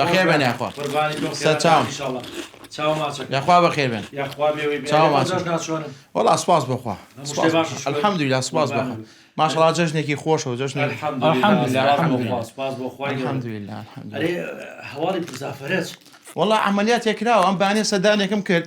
بەخێر بێن یاخوا سەر چاوم یاخوا بەخێر بێن وەڵا سپاس بخوا الحەمدویلا سپاس بخوا ماشەڵا جەژنێکی خۆشەوە جەژنی هەواڵی پرسافرەت وەڵا عملیات تێکراوە ئەم بانێ سەدانێکم کرد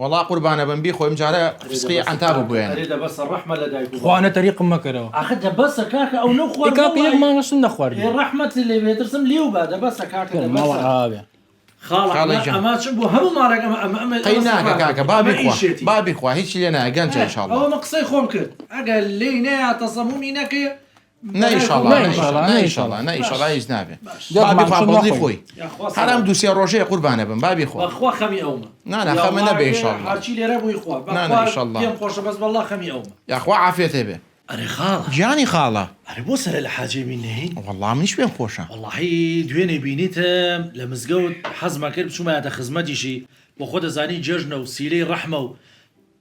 وەڵا قوربانەبم بیخۆی ئمجارە فسقی عەنتابو بوێنە. خوانە تەریقم مەکەرەوە. ئیکا پێیەک مانگە شتم نەخواردووە. خاڵە گیان. قەی ناکە کاکە با بیخوا با بیخوا هیچی لێ نایە گەنجە ان شاء اللە. نە ئیشاڵا نە ئیشاڵا نە ئیشاڵا نە ئیشاڵا هیچ نابێ بابی پاپڵدی خۆی حرام دوو سێ ڕۆژەیە قوربانە بم بابی خۆ خوا خەمی ئەومە نا نا خەمە نەبێ ئیشاڵا هەرچی لێرە بووی خوا نا نا ئیشاڵا پێم خۆشە بەس وەڵڵا خەمی ئەومە یاخوا عافیەت هەبێ ئەرێ خاڵە گیانی خاڵە ئەرێ بۆ سەرە لە حاجێ بین نەهێی وەڵڵا منیش پێم خۆشە وەڵڵاهی دوێنێ بینیتم لە مزگەوت حەزمە کرد بچوومایەتە خزمەتیشی وە خۆ دەزانی جێژنە و سیلەی ڕەحمە و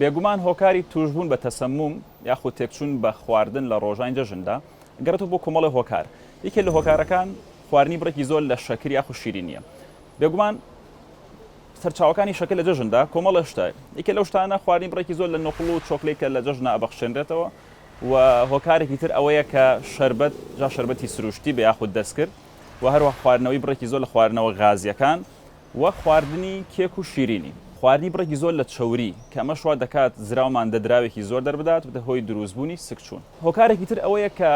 بێگومان هۆکاری توشبوون بە تەسموم یاخود تێکچوون بە خواردن لە ڕۆژانی جەژندا گەڕێتەوە بۆ کۆمەڵێ هۆکار یەکێ لە هۆکارەکان خواردنی بڕێکی زۆر لە شەکر یاخود شیرینیە بێگومان سەرچاوەکانی شەکر لە جەژندا کۆمەڵێ شتە یەکێ لەو شتانە خواردنی بڕێکی زۆر لە نوقڵ و چۆکلەی کە لە جەژنا ئەبەخشێنرێتەوە و هۆکارێکی تر ئەوەیە کە شربەت جا شربەتی سروشتی بە یاخود دەستکرد و هەروە خواردنەوەی بڕێکی زۆر لە خواردنەوە غازیەکان وەک خواردنی کێک و شیرینی. خواردنی بڕێکی زۆر لە چەوری، کە ئەمەش وا دەکات زراو ماددە دراوێکی زۆر دەربدات، ببێتە هۆی دروستبوونی سکچوون. هۆکارێکی تر ئەوەیە کە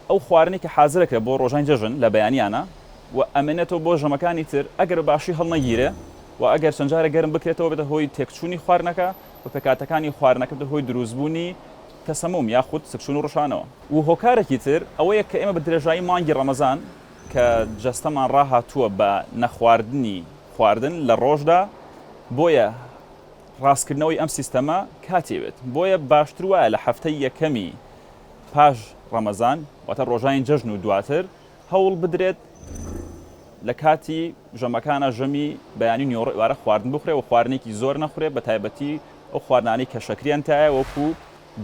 ئەو خواردنەی کە حازر دەکرێت بۆ ڕۆژانی جەژن لە بەیانیانە و ئەمێنێتەوە بۆ ژەمەکانی تر، ئەگەر بە باشی هەڵنەگیرێ و ئەگەر چەند جارێک گەرم بکرێتەوە بێتە هۆی تێکچوونی خواردنەکە و پێکهاتەکانی خواردنەکە ببێتە هۆی دروستبوونی تەسەموم یاخود سکچوون و ڕشانەوە. و هۆکارێکی تر ئەوەیە کە ئێمە بە درێژایی مانگی ڕەمەزان، کە جەستەمان ڕاهاتووە بە نەخواردنی خواردن لە ڕۆژدا، بۆیە ڕاستکردنەوەی ئەم سیستەمە کاتی ئەوێت، بۆیە باشتر وایە لە هەفتەی یەکەمی پاش ڕەمەزان واتە ڕۆژانی جەژن و دواتر هەوڵ بدرێت لە کاتی ژەمەکانا ژەمی بەیانی و نیوەڕۆئوارە خواردن بخورێت و خواردنێکی زۆر نەخورێت بە تایبەتی ئەو خواردنانەی کە شەکریان تایە وەکو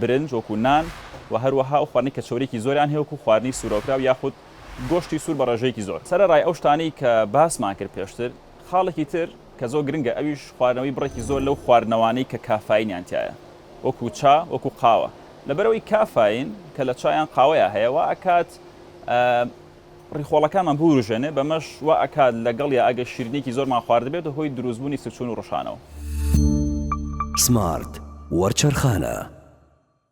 برنج وەکو نان و هەروەها ئەو خواردنەی کە چەوریەکی زۆریان هەیە وەکو خواردنی سورەوکراو یاخود گۆشتی سوور بە ڕێژەیەکی زۆر. سەرەڕای ئەو شتانەی کە باسمان کرد پێشتر، خاڵێکی تر کە زۆر گرنگە ئەویش خواردنەوەی بڕێکی زۆر لەو خواردنەوانەی کە کافاینیان تیایە وەکو چا وەکو قاوە لەبەرئەوەی کافاین کە لە چا یان قاوەیا هەیە وا ئەکات ڕیخۆڵەکانمان بوروژێنێ بەمەش وا ئەکات لەگەڵیا ئەگەر شیرینیەکی زۆرمان خواردبێ بێتە هۆی دروست بوونی سکچوون و ڕشانەوە. سمارت وەرچەرخانە.